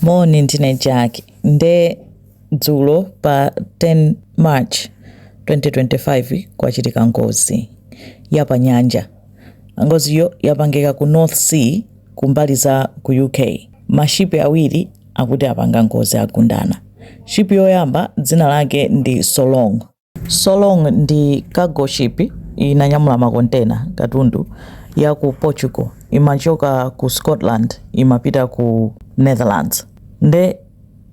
Moni, ndine Jack nde dzulo pa 10 March 2025 kwachitika ngozi ya pa nyanja. Ngoziyo yapangika ku North Sea kumbali za ku UK. Mashipi awiri akuti apanga ngozi agundana. Shipi yoyamba dzina lake ndi Solong Solong ndi cargo ship inanyamula makontena, katundu, ya ku Portugal imachoka ku Scotland imapita ku Netherlands. Nde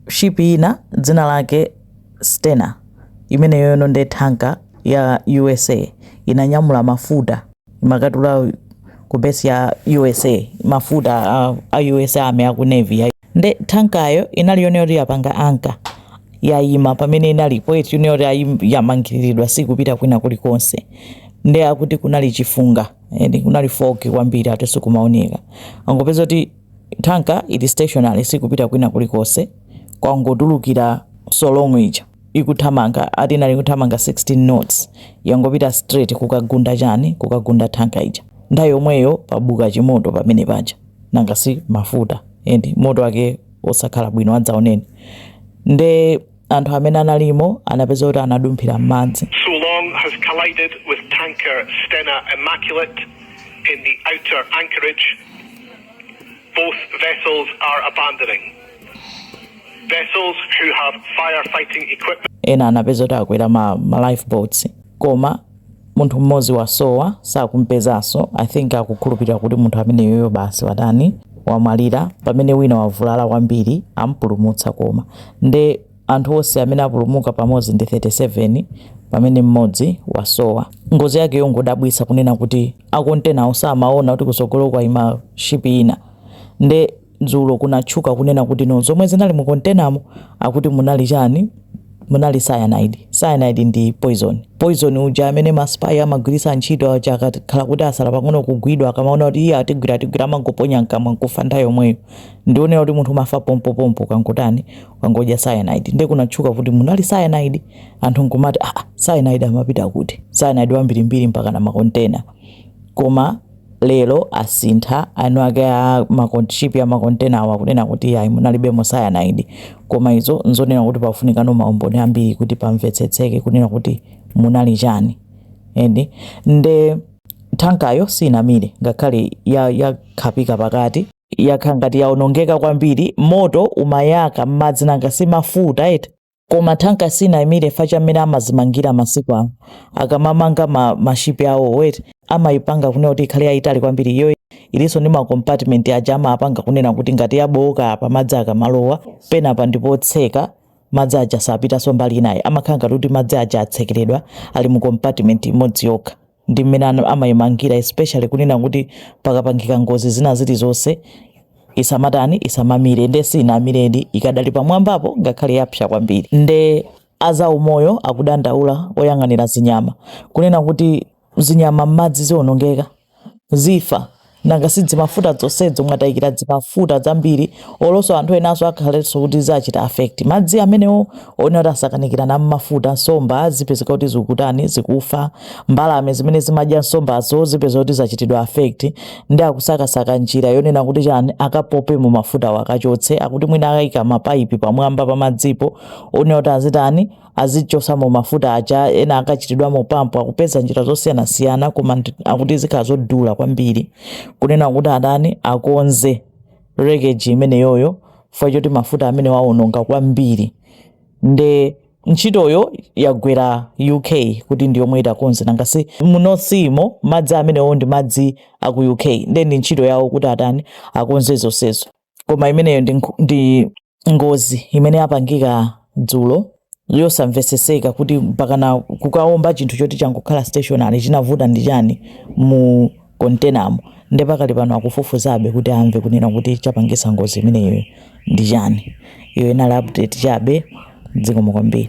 ship ina dzina lake Stena, imeneyono nde thanka ya usa, inanyamula mafuta imakatula ku base ya usa, mafuta a usa army, a ku navy ya. nde thankayo inali yone yoti yapanga anka yayima pamene inalipo eti yone yoti ayi- yamangiriridwa sikupita kwina kulikonse nde akuti kunali chifunga eti kunali fogi kwambiri ati sikumaoneka angopeza kuti thanka ili stationary sikupita kwina kulikonse kwangotulukira solong ija ikuthamanga ati inali kuthamanga 16 knots yangopita straight kukagunda chani kukagunda thanka ija nthawi yomweyo pabuka chimoto pamene paja nanga si mafuta endi moto wake osakhala bwino adzaoneni nde anthu amene analimo anapeza kuti anadumphira m'madzi Solong has collided with tanker Stena Immaculate in the outer anchorage. Both vessels are abandoning. Vessels who have firefighting equipment. ena anapeza kuti akwera ma, ma lifeboats koma munthu mmodzi wasowa sakumpezanso i think akukhulupirira kuti munthu ameneyoyo basi watani wamwalira pamene wina wavulala kwambiri ampulumutsa koma nde anthu onse amene apulumuka pamodzi ndi 37 pamene mmodzi wasowa ngozi yake yongodabwitsa kunena kuti akontenawo samaona kuti kusogolo kwaima shipi ina nde dzulo kunatchuka kunena kuti no zomwe zinali mu containamo akuti munali chani munali cyanide cyanide ndi poison poison uja amene maspai amagwiritsa ntchito aja akakhala kuti asala pang'ono kugwidwa akamaona kuti iye atigwira atigwira amangoponya mkamwa nkufa nthawi yomweyo ndi oonera kuti munthu umafa pompopompo ukangotani ukangodya cyanide nde kunatchuka kuti munali cyanide anthu nkumati ah cyanide amapita kuti cyanide wambirimbiri mpaka na makontena koma lero asintha eni ake a makon- ship ya makontena awa kunena kuti ayi munalibemo cyanide koma izo nzonena kuti pafunikano maumboni ambiri kuti pamvetsetseke kunena kuti munali chani and nde tankayo sinamire ngakhale ya- yakhapika pakati yakhala ngati yaonongeka kwambiri moto umayaka m'madzi nanga si mafuta eti koma thanka siinamire fa cha mmene amazimangira masiku ano akamamanga ma, mashipi awo amayipanga kunena kuti ikhale yayitali kwambiri iyo ilinso ndi macompartment aja amapanga kunena kuti ngati yabowoka apa madzi akamalowa penapa ndipotseka madzi aja sapitanso mbali inayi amakhala ngati kuti madzi aja atsekeredwa ali mu compartment imodzi yokha ndi mmene amaimangira especially kunena kuti pakapangika ngozi zina zilizonse isamatani isamamire nde siinamiredi ikadali pamwambapo ngakhale yapsa kwambiri nde azaumoyo akudandaula oyang'anira zinyama kunena kuti zinyama m'madzi zionongeka zifa nanga si dzimafuta zonsezo mwatayikira zimafuta zambiri olonso anthu enanso akhalenso kuti zachita affect madzi amenewo onena kuti asakanikirana ndi mafuta nsomba zipezeka kuti zikutani zikufa mbalame zimene zimadya nsombazo zipezeka kuti zachitidwa affect nde akusakasaka njira yonena kuti chani akapopemo mafutawo akachotse akuti mwina akayika mapaipi pamwamba pa madzipo onena kuti azitani azichosamo mafuta aja ena akachitidwamo pampu akupeza njira zosiyanasiyana koma akuti zikhala zodula kwambiri kunena kuti atani akonze wreckage imeneyoyo chifukwa choti mafuta amenewo aononga kwambiri nde ntchitoyo yagwera uk kuti ndi yomwe itakonze nangasi mu north sea mo madzi amenewo ndi madzi aku uk nde ndi ntchito yawo kuti atani akonze zonsezo koma imeneyo ndi, nkhu- ndi ngozi imene yapangika dzulo yosamveseseka kuti mpakana kukaomba chinthu choti changokhala stationary chinavuta ndi chani mu containamo nde pakali pano akufufuzabe kuti amve kunena kuti chapangisa ngozi imeneyo ndi chani iyo inali update chabe mdziko mu kwambiri